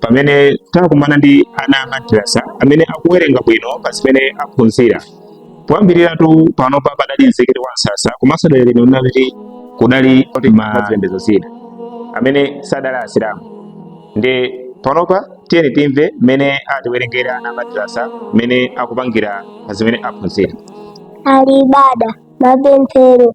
pamene takumana ndi ana a madrasa amene akuwerenga bwino pa zimene aphunzira poyambiriratu panopa padali mzikiti wa msasa komanso dera lino linali kudali mazipembedzo zina amene sadali asilamu ndi panopa tiyeni timve mmene atiwerengera ana a madrasa mmene akupangira pa zimene aphunzira ali bada mapemphero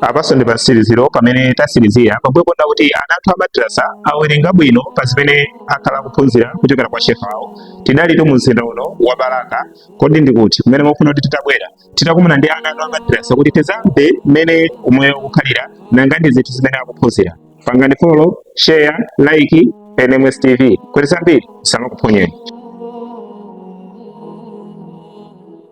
apanso ndi pamtsiriziro pamene tatsirizira pambuyo pona kuti ana athu amadrasa awerenga bwino pa zimene akhala akuphunzira kuchokera kwa shehe awo tidalitu mu mzinda uno wa balaka kodi ndikuti kumene mukufuna kuti titabwera titakumana ndi ana athu amadrasa kuti tidzakambe mmene umoyo ukukhalira nanga ndi zinthu zimene akuphunzira pangani follow share like nms tv kuti zambiri zisamakuphonyeni